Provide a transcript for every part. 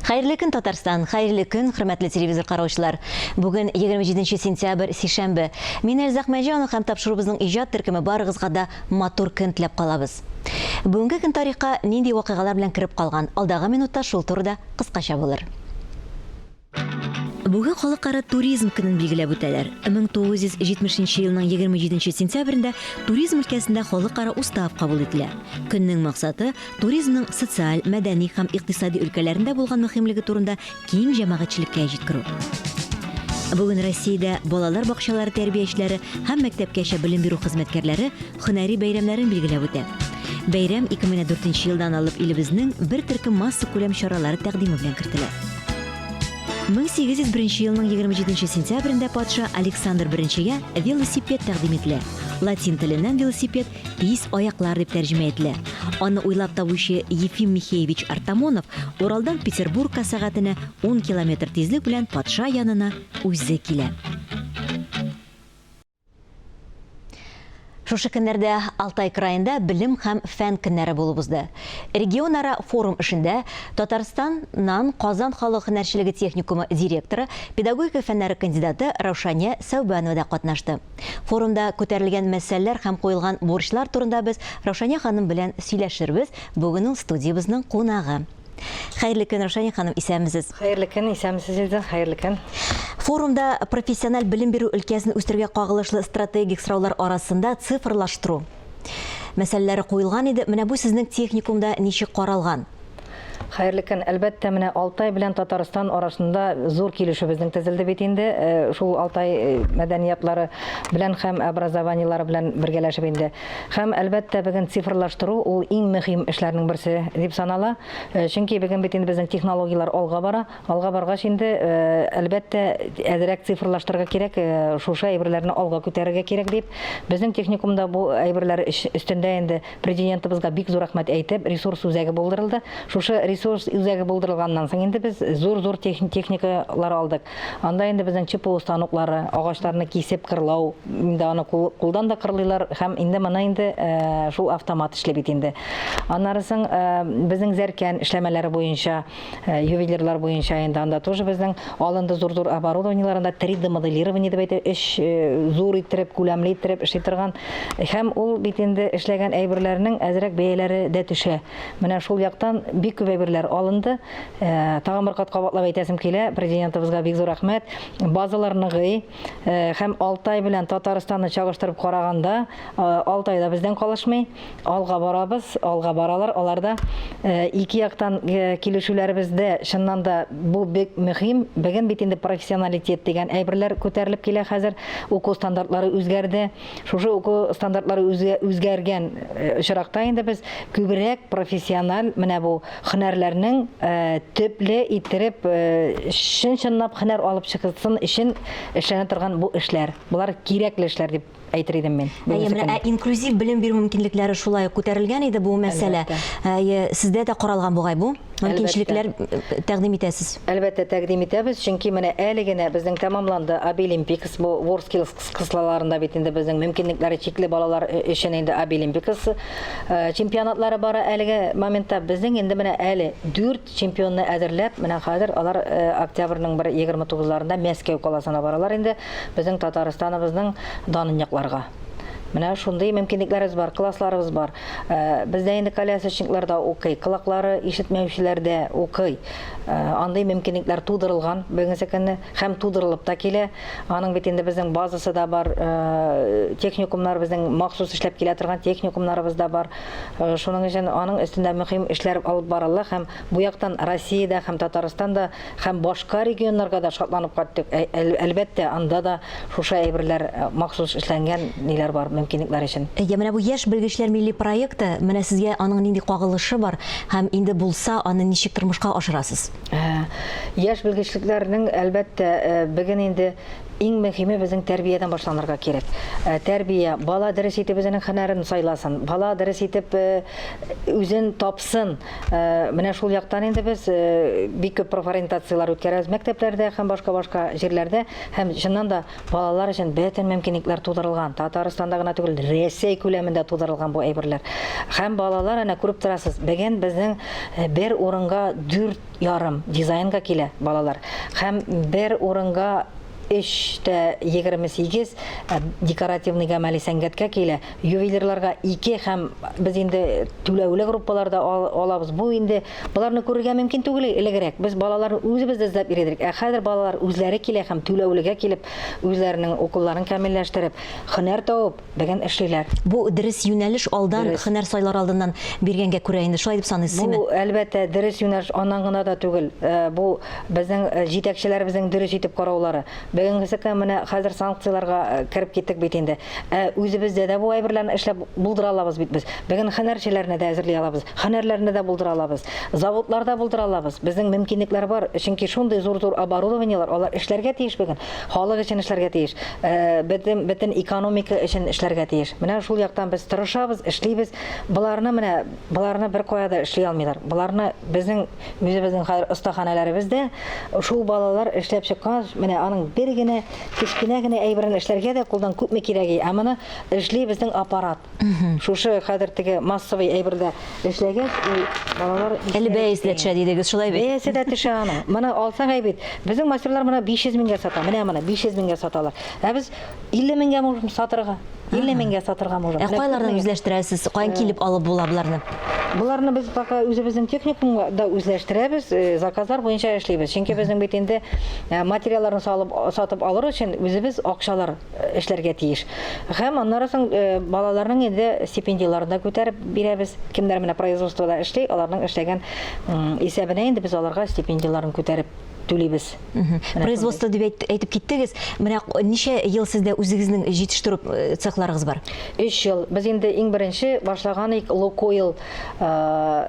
Хәерле көн Татарстан, хәерле көн хөрмәтле телевизор караучылар. Бүген 27 сентябрь сишәмбе. Мин Әлзак Мәҗанов һәм тапшырубызның иҗат төркеме барыгызга да матур көн теләп калабыз. Бүгенге көн тарихка нинди вакыйгалар белән кереп калган, алдагы минутта шул турыда кыскача булыр. Бүген халыкара туризм көнен билгеләп үтәләр. 1970 елның 27 сентябрендә туризм өлкәсендә халыкара устав кабул ителә. Көннең максаты туризмның социаль, мәдәни һәм икътисади өлкәләрендә булган мөһимлеге турында киң җәмәгатьчелеккә җиткерү. Бүген Россиядә балалар бакчалары тәрбиячеләре һәм мәктәпкәчә белем бирү хезмәткәрләре Һөнәри бәйрәмнәрен билгеләп үтә. Бәйрәм 2004 елдан алып илебезнең бер төркем массакүләм чаралары тәкъдиме белән кертелә. 1801 елның 27 сентябрендә патша Александр I-гә велосипед тәкъдим ителә. Латин теленнән велосипед тиз аяклар дип тәрҗемә ителә. Аны уйлап табучы Ефим Михеевич Артамонов Уралдан Петербургка сәгатенә ун километр тизлек белән патша янына үзе килә. Шушы көннәрдә Алтай краенда белем һәм фән көннәре булып узды. Регионара форум эшендә Татарстаннан Казан халык һөнәрчелеге техникумы директоры, педагогика фәннәре кандидаты Раушания Сәүбанова да катнашты. Форумда күтәрелгән мәсьәләләр һәм куелган бурычлар турында без Раушания ханым белән сөйләшербез, бүген ул студиябезнең кунагы. Хәерле көн, Рушания ханым, исәнмесез. Хәерле көн, исәнмесез, Илдә. Хәерле көн. Форумда профессиональ белем бирү өлкәсен үстерүгә кагылышлы стратегик сораулар арасында цифрлаштыру мәсьәләләре куелган иде. Менә бу сезнең техникумда ничек каралган? Хәерле көн. Әлбәттә, менә Алтай белән Татарстан арасында зур килешү безнең төзелде бит инде. Э, шул Алтай э, мәдәниятлары белән һәм образованиелары белән бергәләшеп инде. Һәм, әлбәттә, бүген цифрлаштыру ул иң мөһим эшләрнең берсе дип санала. Чөнки бүген бит инде безнең технологияләр алга бара. Алга баргач инде, әлбәттә, әзрәк цифрлаштырырга кирәк, шушы әйберләрне алга күтәрергә кирәк, дип, безнең техникумда бу әйберләр өстендә инде Президентыбызга бик зур рәхмәт әйтеп, ресурс үзәге булдырылды. Шушы ресурс үзәге булдырылганнан соң инде без зур-зур техникалар алдык. Анда инде безнең ЧПУ станоклары, агачларны кисеп кырлау, инде аны кулдан да кырлыйлар һәм инде моны инде э, шул автомат эшли бит инде. Аннары соң э, безнең зәркән эшләмәләре буенча, э, ювелирлар буенча инде анда тоже безнең алынды зур-зур оборудованиеларында 3D моделирование дип әйтә, эш зур иттереп, күләмле иттереп эшли торган һәм ул бит инде эшләгән әйберләрнең әзрәк бәяләре дә төшә. Менә шул яктан бик күп әйберләр алынды. Э, тагын бер кат кабатлап әйтәсем килә, президентыбызга бик зур рәхмәт. Базалар ныгый э, һәм Алтай белән Татарстанны чагыштырып караганда, э, Алтай да бездән калышмый. Алга барабыз, алга баралар. Алар да ике яктан килешүләребездә чыннан да бу бик мөһим. Бүген бит инде профессионалитет дигән әйберләр күтәрелеп килә хәзер. Уку стандартлары үзгәрде. Шушы уку стандартлары үзгәргән э, очракта инде без күбрәк профессиональ менә бу һөнәрләрнең э, төпле иттереп э, чын-чынлап һөнәр алып чыксын өчен эшләнә торган бу эшләр. Болар кирәкле эшләр дип әйтер идем мин. Әйе, менә ә инклюзив белем бирү мөмкинлекләре шулай ук күтәрелгән иде бу мәсьәлә. Әйе, сездә дә каралган бугай бу? Мөмкинчелекләр тәкъдим итәсез? Әлбәттә, тәкъдим итәбез, чөнки менә әле генә безнең тәмамланды Абилимпикс, бу WorldSkills Кызлаларында бит инде безнең мөмкинлекләре чикле балалар өчен инде Абилимпикс чемпионатлары бара әлеге моментта. Безнең инде менә әле 4 чемпионны әзерләп, менә хәзер алар октябрьнең 1-29-ларында Мәскәү каласына баралар инде безнең Татарстаныбызның данын якларга. Менә шундый мөмкинлекләребез бар, классларыбыз бар. Бездә инде колясочниклар да укый, колаклары ишетмәүчеләр дә укый. Андый мөмкинлекләр тудырылган бүгенге көнне. һәм тудырылып та килә. Аның бит инде безнең базасы да бар, техникумнар безнең махсус эшләп килә торган техникумнарыбыз да бар. Шуның өчен аның өстендә мөһим эшләр алып барыла һәм бу яктан Россиядә һәм Татарстанда һәм башка регионнарга да шатланып кайттык. Әлбәттә, анда да шушы әйберләр махсус эшләнгән ниләр бар, мөмкинлекләр өчен. Әйдә, менә бу Яшь белгечләр милли проекты, менә сезгә аның нинди кагылышы бар һәм инде булса, аны ничек тормышка ашырасыз? Яшь белгечлекләрнең, әлбәттә, беген инде иң мөһиме безнең тәрбиядән башланырга кирәк. Тәрбия, бала дөрес итеп үзенең хөнәрен сайласын, бала дөрес итеп үзен тапсын. Менә шул яктан инде без бик күп профориентацияләр үткәрәбез мәктәпләрдә һәм башка-башка җирләрдә һәм чыннан да Балалар өчен бөтен мөмкинлекләр тудырылган. Татарстанда гына түгел, Рәсәй күләмендә тудырылган бу әйберләр. Һәм балалар, әнә күреп торасыз, бүген безнең э, бер урынга дүрт ярым дизайнга килә балалар. Һәм бер урынга өч тә егерме сигез э, декоративный гамәли сәнгатькә килә. ювелирларга ике һәм без инде түләүле группалар да алабыз. Бу инде боларны күрергә мөмкин түгел элегрәк. Без балаларны үзебез дә эзләп йөридек. Ә хәзер балалар үзләре килә һәм түләүлегә килеп, үзләренең укуларын камилләштереп, һөнәр табып, бүген эшлиләр. Бу дөрес юнәлеш алдан һөнәр сайлар алдыннан биргәнгә күрә инде шулай дип саныйсызмы? Бу әлбәттә дөрес юнәлеш аннан гына да түгел. Э, бу безнең э, җитәкчеләребезнең дөрес итеп караулары. Бүгенгесе көн менә хәзер санкцияләргә э, кереп киттек бит инде. Ә үзебездә дә бу әйберләрне эшләп булдыра алабыз бит без. Бүген хәнәрчеләрне дә әзерли алабыз, хәнәрләрне дә булдыра алабыз, заводлар да булдыра алабыз. Безнең мөмкинлекләр бар, чөнки шундый зур-зур оборудованиеләр, алар эшләргә тиеш бүген. Халык өчен эшләргә тиеш, бөтен бөтен экономика өчен эшләргә тиеш. Менә шул яктан без тырышабыз, эшлибез. Боларны менә, боларны беркая да эшли алмыйлар. Боларны безнең Үзебезнең хәзер остаханәләребез дә шул балалар эшләп чыккач, менә аның бер генә кечкенә генә әйберен эшләргә дә кулдан күпме кирәги, ә моны эшли безнең аппарат. Шушы хәзер теге массовый әйбердә эшләгәч, ул балалар Әле бәясе дә төшә дидегез, шулай бит? Бәясе дә төшә аның. Моны алсаң әйбит. Безнең мастерлар моны 500 меңгә сата. Менә моны 500 меңгә саталар. Ә без 50 меңгә можем сатырга. 50 меңгә сатырга можем. Ә кайлардан үзләштерәсез? Каян э, килеп алып була боларны? Боларны без пока үзебезнең техникумда үзләштерәбез, э, заказлар буенча эшлибез. Чөнки безнең бит инде э, материалларны салып сатып алыр өчен үзебез акчалар э, эшләргә тиеш. Һәм аннары соң балаларның инде стипендияләрен дә күтәреп бирәбез. Кемнәр менә производствода эшли, аларның эшләгән исәбенә инде без аларга стипендияләрен күтәреп түлибез. Производство дип әйтеп киттегез. Менә ничә ел сездә үзегезнең җитештерү э, цехларыгыз бар? 3 ел. Без инде иң беренче башлаган ик Лукойл э,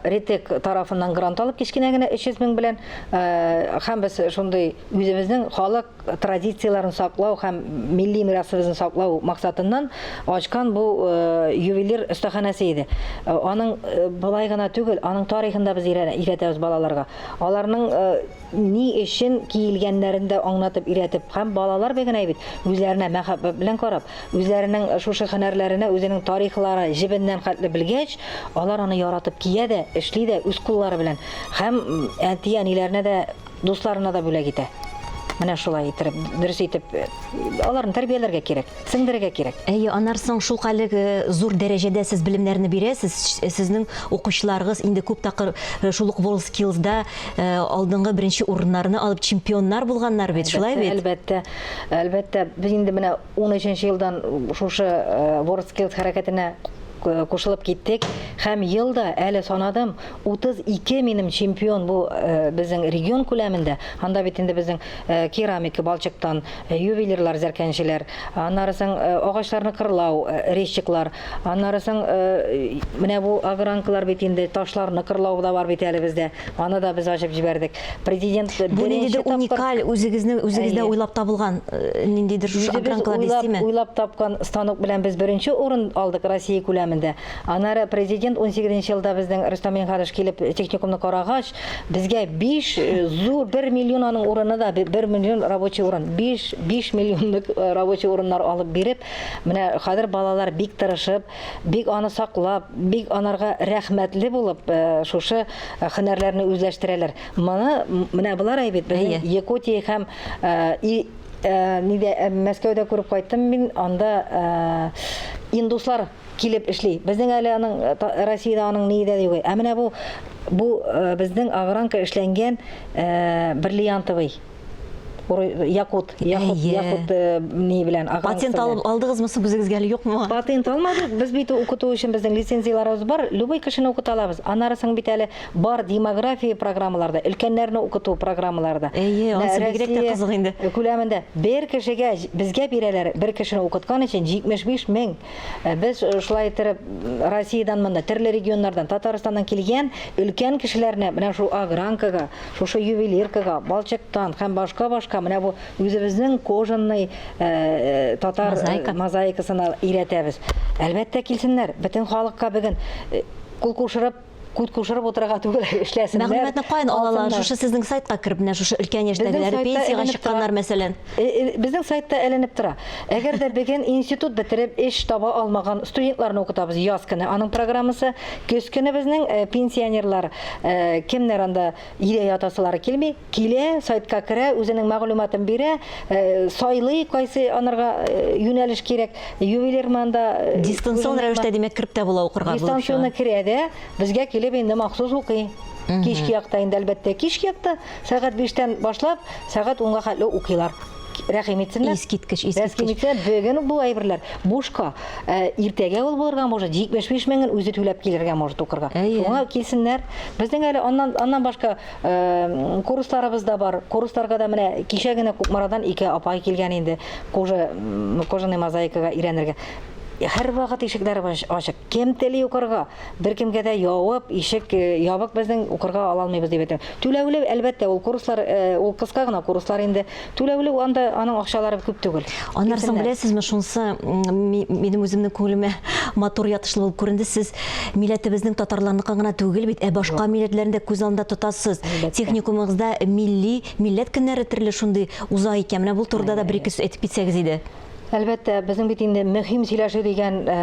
Ритек тарафыннан грант алып кечкенә генә 300 мең белән э, һәм без шундый үзебезнең халык традицияләрен саклау һәм милли мирасыбызны саклау максатыннан ачкан бу ювелир остаханәсе иде. Аның былай гына түгел, аның тарихында без өйрәтәбез балаларга. аларның ни өчен киелгәннәрен дә аңлатып өйрәтеп һәм балалар бегенә бит үзләренә мәхәббәт белән карап, үзләренең шушы һөнәрләренә үзенең тарихлары җебеннән хәтле белгәч, алар аны яратып кия дә, эшли дә үз куллары белән һәм әти-әниләренә дә, дусларына да бүләк итә. Менә шулай иттереп, дөрес итеп аларны тәрбияләргә кирәк. Сеңдерергә кирәк. Әйе, аннары соң шулкадәр зур дәрәҗәдә сез белемнәрне бирәсез, сезнең укучыларыгыз инде күп тапкыр шул ук WorldSkills-да алдынгы беренче урыннарны алып, чемпионнар булганнар бит, шулай бит? Әлбәттә, әлбәттә. Әлбәттә, без инде менә унөченче елдан шушы WorldSkills хәрәкәтенә кушылып киттек һәм ел да әле санадым 32 минем чемпион бу безнең регион күләмендә анда бит инде безнең керамика балчыктан ювелирлар, зәркәнчеләр, аннары соң агачларны кырлау, резчиклар, аннары соң менә бу огранкалар бит инде, ташларны кырлау да бар бит әле бездә, аны да без ачып җибәрдек. Президент беренче тапкыр... Бу ниндидер уникаль, үзегезне, үзегездә уйлап табылган ниндидер шушы огранкалар дистеме? Үзебез уйлап тапкан станок белән без беренче урын алдык Россия күләмендә. Аннары Президент 18 нче елда безнең Рөстәм Минһаҗевич килеп техникумны карагач, Безгә 5 э, зур 1 миллион аның урыны да 1 миллион рабочий урын. 5 5 миллионлык э, рабочий урыннар алып биреп, менә хәзер балалар бик тырышып, бик аны саклап, бик анарга рәхмәтле булып э, шушы хөнәрләрне үзләштерәләр. Моны менә болар әйбит, безнең Якутия һәм Э, нидә э, Мәскәүдә күреп кайттым мин, анда э, индуслар килеп эшли. Безнең әле аның Россиядә аның ние дә юк. Ә менә бу бу безнең огранка эшләнгән бриллиантовый якут, якут, якут ни белән агран. Патент алып алдыгызмы соң үзегезгә әле юкмы? Патент алмадык. Без бит укыту өчен безнең лицензияләребез бар. Любой кешене укыта алабыз. Анарысын бит әле бар демография программаларда, өлкәннәрне укыту программаларда. Әйе, анысы бигрәк тә кызык инде. Күләмендә бер кешегә безгә бирәләр, бер кешене укыткан өчен 75 мең Без шулай иттереп Россиядән монда төрле регионнардан, Татарстаннан килгән өлкән кешеләрне менә шу агранкага, шушы ювелиркага, балчыктан һәм башка-башка менә бу үзебезнең кожаный э, татар э, Мозаика. мозаикасына өйрәтәбез. Әлбәттә килсеннәр, бөтен халыкка бүген э, кул кушырып күт кушырып утырырга түгел, эшләсеннәр. Мәгълүматны каян алалар? Шушы сезнең сайтка кереп, менә шушы өлкән яшьтәгеләр, пенсиягә чыкканнар, мәсәлән. Э, э, безнең сайтта әйләнеп тора. Әгәр дә бүген институт бетереп эш таба алмаган студентларны укытабыз яз көне. Аның программасы көз көне безнең э, пенсионерлар кемнәр анда өйдә ятасылары килми, Килә, сайтка керә, үзенең мәгълүматын бирә, сайлый, кайсы анарга юнәлеш кирәк, ювелирман да. Дистанцион рәвештә, димәк, кереп тә була укырга булып чыга. Дистанционы керә дә, безгә килеп инде махсус укый. Кичке якта инде, әлбәттә, кичке якта, сәгать биштән башлап, сәгать унга хәтле укыйлар. Рәхим итсеннәр. Искиткеч, искиткеч. Рәхим итсеннәр, бүген үк бу әйберләр бушка. Иртәгә ул булырга может, 75 меңен үзе түләп килергә может укырга. Шуңа килсеннәр. Безнең әле аннан башка Курсларыбыз да бар. Курсларга да менә кичә генә Кукмарадан ике апай килгән инде. Кожа, кожаный мозаикага өйрәнергә. Һәрвакыт ишекләребез ачык. Кем тели укырга, беркемгә дә явып, ишек э, ябык безнең укырга ала алмыйбыз дип әйтәм. Түләүле, әлбәттә, ул курслар, э, ул кыска гына курслар инде. Түләүле анда аның акчалары күп түгел. Аннары соң беләсезме, шунсы минем үземнең күңелемә матур ятышлы булып күренде. Сез милләтебезнең татарларныкы гына түгел бит, ә башка милләтләрне дә күз алдында тотасыз. Техникумыгызда милли, милләт көннәре төрле шундый уза икән. Менә бу турыда да бер-ике сүз әйтеп китсәгез иде. Әлбәттә, безнең бит инде мөһим сөйләшү дигән э,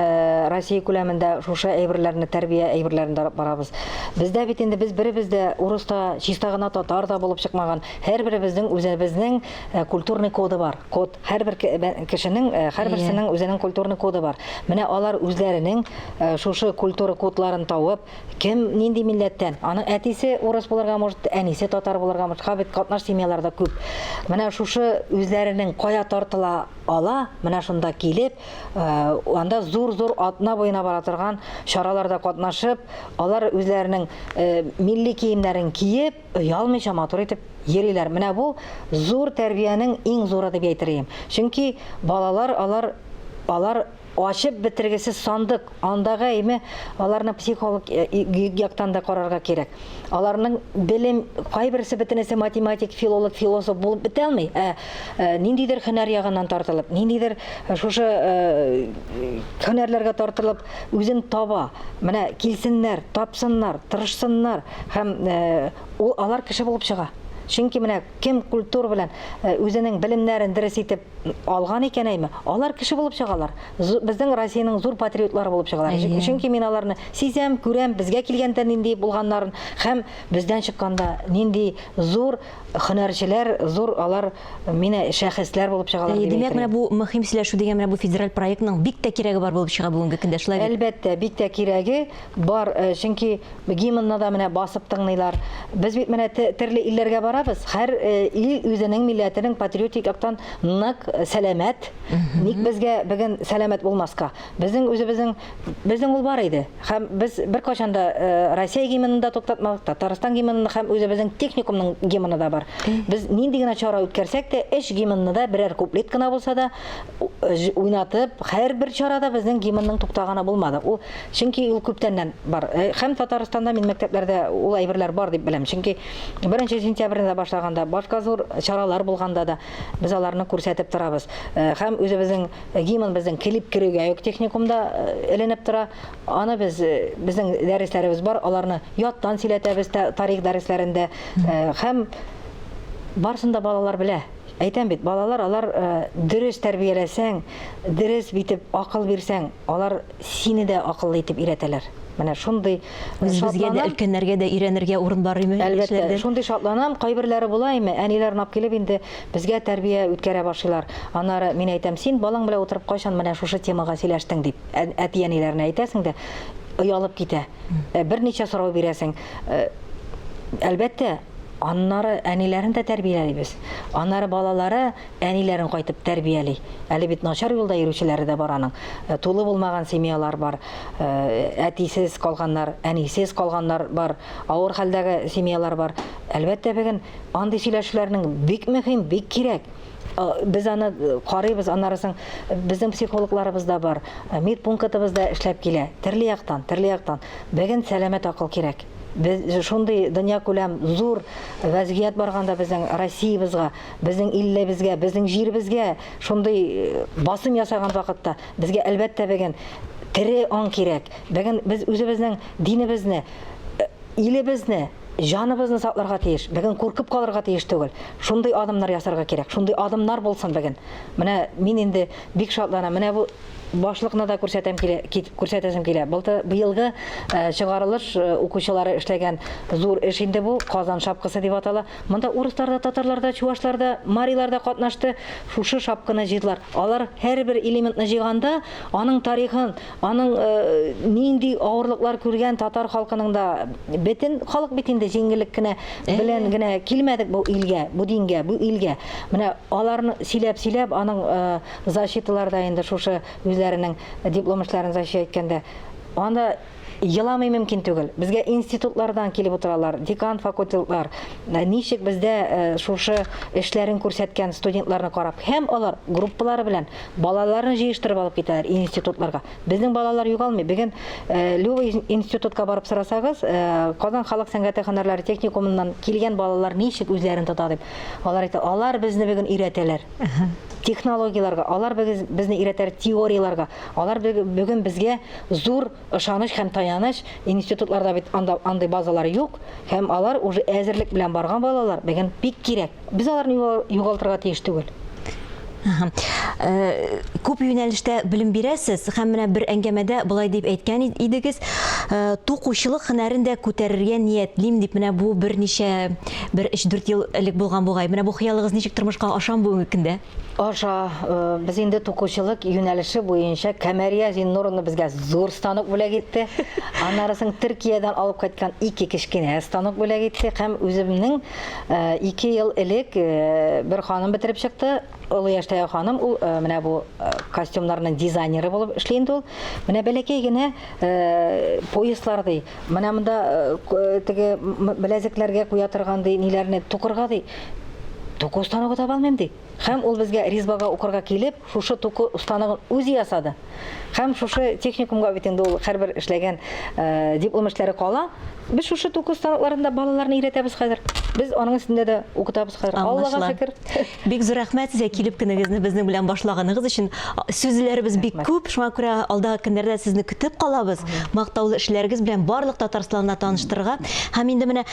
Россия күләмендә шушы әйберләрне, тәрбия әйберләрендә барабыз. Бездә бит инде без беребез дә урыс та, чиста гына татар да булып чыкмаган. Һәрберебезнең үзебезнең э, культурный коды бар. Код. Һәрбер ке- бә- кешенең, э, һәрберсенең үзенең культурный коды бар. Менә алар үзләренең э, шушы культура кодларын тавып, кем нинди милләттән? Аның әтисе урыс булырга может, әнисе татар булырга может. Ха бит катнаш семьяларда күп. Менә шушы үзләренең кая тартыла ала, менә шунда килеп, э, анда зур-зур атна буена бара торган чараларда катнашып, алар үзләренең э, милли киемнәрен киеп, Оялмыйча матур итеп йөриләр. Менә бу зур тәрбиянең иң зуры дип әйтер идем. Чөнки балалар алар алар ачып бетергесез сандык. Анда гаеме аларны психолог яктан да карарга кирәк. Аларның белем кайберсе бөтенесе математик, филолог, философ булып бетә алмый, ә ниндидер хөнәр ягыннан тартылып, ниндидер шушы хөнәрләргә тартылып үзен таба. Менә килсеннәр, тапсыннар, тырышсыннар. Һәм ул алар кеше булып чыга. Чөнки менә кем культура белән үзенең белемнәрен дөрес итеп алган икән әйме, алар кеше булып чыгалар. Безнең Россиянең зур патриотлары булып чыгалар. Чөнки мин аларны сизәм, күрәм, безгә килгәндә нинди булганнарын һәм бездән чыкканда нинди зур хөнәрчеләр, зур алар менә шәхесләр булып чыгалар. Димәк, менә бу мөһим сөйләшү дигән менә бу федераль проектның бик тә кирәге бар булып чыга бүгенге көндә, шулай бит? Әлбәттә, бик тә кирәге бар, чөнки Гимнны да менә басып тыңлыйлар. Без бит менә терле илләргә барабыз, хәр ил үзенең милләтенең патриотик яктан нык сәламәт. Ник безгә бүген сәламәт булмаска? Безнең үзебезнең безнең ул бар иде. Һәм без беркайчан да Россия гимнын да туктатмадык, Татарстан гимнын да һәм үзебезнең техникумның гимны да бар. Без нинди генә чара үткәрсәк тә, өч гимнны да берәр куплет кына булса да уйнатып, һәрбер чарада безнең гимнның туктаганы булмады. Ул Чөнки ул күптәннән бар. Һәм Татарстанда мин мәктәпләрдә ул әйберләр бар дип беләм. Чөнки беренче сентябрьдә башлаганда, башка зур чаралар булганда да без аларны күрсәтеп торабыз. Һәм үзебезнең гимнбезнең клип керүгә үк техникумда эленеп тора. Аны без, безнең дәресләребез бар, аларны яттан сөйләтәбез тарих дәресләрендә. Һәм барысын да балалар белә. Әйтәм бит, балалар алар дөрес тәрбияләсәң, дөрес битеп акыл бирсәң, Алар сине дә акыллы итеп өйрәтәләр. Менә шундый Үзебезгә дә, өлкәннәргә дә өйрәнергә урын бар име? Әлбәттә, шундый шатланам, кайберләре була име, әниләр нап килеп инде безгә тәрбия үткәрә башлыйлар. Аннары мин әйтәм, син балаң белән утырып кайчан менә шушы темага сөйләштең, дип, әти-әниләренә әйтәсең дә, оялып китә. Берничә сорау бирәсең. Әлбәттә, аннары әниләрен дә тәрбиялибез. Аннары балалары Әниләрен кайтып тәрбияли. Әле бит начар юлда йөрүчеләре дә бар аның. Тулы булмаган семьялар бар. Әтисез калганнар, әнисез калганнар бар. Авыр хәлдәге семьялар бар. Әлбәттә, бүген андый сөйләшүләрнең бик мөһим, бик кирәк. Без аны карыйбыз, аннары соң безнең психологларыбыз да бар, медпункытыбыз да эшләп килә. Төрле яктан, төрле яктан. Бүген сәламәт акыл кирәк. Без шундый дөньякүләм зур вәзгыять барганда безнең Россиябезгә, Безнең иллебезгә, безнең җиребезгә шундый э, басым ясаган вакытта безгә әлбәттә беген тере аң кирәк. Беген без үзебезнең динебезне, э, илебезне, җаныбызны сакларга тиеш. Беген куркып калырга тиеш түгел. Шундый адымнар ясарга кирәк. Шундый адымнар булсын беген. Менә мин инде бик шатланам. Менә бу башлыкны да күрсәтәм килә, кит- күрсәтәсем килә. Былтыр быелгы э, чыгарылыш э, укучылары эшләгән зур эш инде бу, Казан шапкасы дип атала. Монда урыслар да, татарлар да, чувашлар да, марилар да катнашты, шушы шапкыны җыйдылар. Алар һәрбер элементны җыйганда, аның тарихын, аның нинди авырлыклар күргән татар халкының да, бетен халык бит инде җиңеллек кенә белән генә килмәдек бу илгә, бу дингә, бу илгә. Менә аларны сөйләп-сөйләп, аның защиталары да инде шушы үзләренең диплом эшләрен защищать иткәндә, анда Еламый мөмкин түгел. Безгә институтлардан килеп утыралар, декан факультетлар, ничек бездә шушы эшләрен күрсәткән студентларны карап, һәм алар группалары белән балаларын җыештырып алып китәләр институтларга. Безнең балалар югалмый. Бүген Люба институтка барып сорасагыз, Казан халык сәнгате һөнәрләре техникумыннан килгән балалар ничек үзләрен тота дип, алар әйтә, алар безне бүген өйрәтәләр. технологияләргә, алар без, безне өйрәтәр теорияләргә, алар бүген безгә зур ышаныч һәм таяныч, институтларда бит анда андый базалар юк, һәм алар уже әзерлек белән барган балалар, бүген бик кирәк. Без аларны югалтырга тиеш түгел. Э, күп юнәлештә белем бирәсез һәм менә бер әңгәмәдә былай дип әйткән идегез, э, тукучылык һөнәрен дә күтәрергә ниятлим дип менә бу берничә Бер өч-дүрт ел элек булган бугай. Менә бу хыялыгыз ничек тормышка ашамы бүгенге көндә? Аша. Э, без инде тукучылык юнәлеше буенча Камәрия Зиннуровна безгә зур станок бүләк итте. Аннары соң Төркиядән алып кайткан ике кечкенә станок бүләк итте һәм үземнең э, ике ел элек э, бер ханым бетереп чыкты. Олы яшьтәге ханым ул э, менә бу э, костюмнарның дизайнеры булып эшли инде ул. Менә бәләкәй генә э, пояслар ди. Менә монда теге беләзекләргә куя торган ди, ниләрне тукырга ди. Туку станогы таба алмыйм ди. Һәм ул безгә Ризбага укырга килеп, шушы туку станогын үзе ясады. Һәм шушы техникумга бит инде ул һәрбер эшләгән диплом эшләре кала. Без шушы туку станокларында балаларны өйрәтәбез хәзер. Без аның өстендә дә укытабыз хәзер. Аллага шөкер. Бик зур рәхмәт сезгә килеп кенегезне безнең белән башлаганыгыз өчен. Сүзләребез бик күп, шуңа күрә алдагы көннәрдә сезне көтеп калабыз. Мактаулы эшләрегез белән барлык Татарстанны таныштырырга. Һәм инде менә